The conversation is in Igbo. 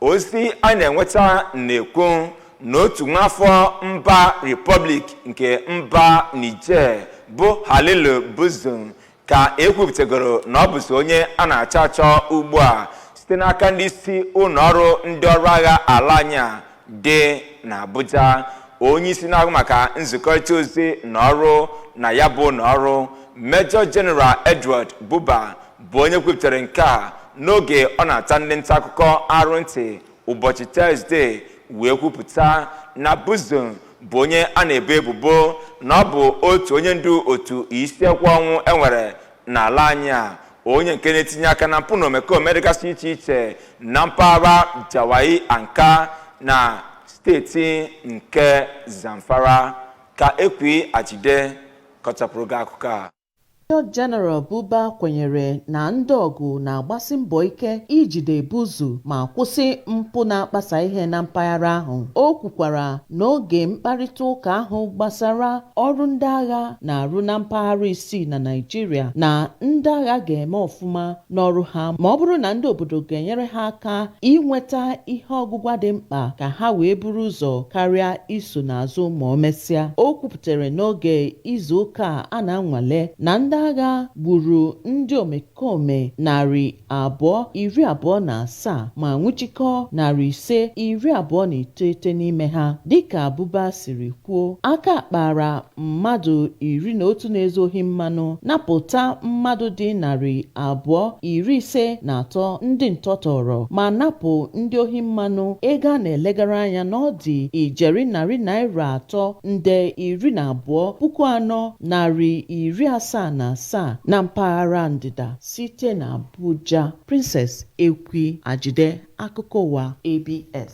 ozi a na-enweta na-ekwu na otu nwaafọ mba Republic nke mba Niger bụ Halilu Buzu ka ekwupụtagoro na ọ bụzi onye a na-achọ achọ ugbu a site n'aka ndị isi ụlọ ọrụ ndị ọrụ agha ala anyị a dị n'Abuja onye isi na-ahụ maka nzikọrịta ozi na ọrụ na ya bụ ụlọ ọrụ Major General Edward Buba bụ onye kwupụtara nke a n'oge ọ na-ata ndị nta akụkọ arụ ntị ụbọchị Tọzdee wee kwupụta na Buzu bụ onye a na-ebo ebubo na ọ bụ otu onye ndu otu isi ekwe ọnwụ enwere n'ala anyị a onye nke na-etinye aka na mpụ na omekome dịgasị iche iche na mpaghara Jawai Anka na steeti nke Zamfara ka Ekwi Ajide kọchapụrụ gị akụkọ a Major General Buba kwenyere na ndị ọgụ na-agbasi mbọ ike ijide Buzu ma kwụsị mpụ na-akpasa ihe na mpaghara ahụ. O kwukwara n'oge mkparịta ụka ahụ gbasara ọrụ ndị agha na-arụ na mpaghara isii na Naịjirịa na ndị agha ga-eme ọfụma n'ọrụ ha ma ọ bụrụ na ndị obodo ga-enyere ha aka inweta ihe ọgụgwa dị mkpa ka ha wee buru ụzọ karịa iso n'azụ ma o mesịa. O tara n'oge izu ụka a na-anwale na ndị agha gburu ndị omekome narị abụọ iri abụọ na asaa ma nwụchikọ narị ise iri abụọ na iteghete n'ime ha dịka Buba siri kwuo aka kpara mmadụ iri na otu na-ezu ohi mmanụ napụta mmadụ dị narị abụọ iri ise na atọ ndị ntọ tọọrọ ma napụ ndị ohi mmanụ ego a na-elegara anya na ọ dị ijeri narị naira atọ nde iri na abụọ puku anọ narị iri asaa na asaa na mpaghara ndịda site na Abuja. Princess Ekwi Ajide, akụkọ ụwa ABS.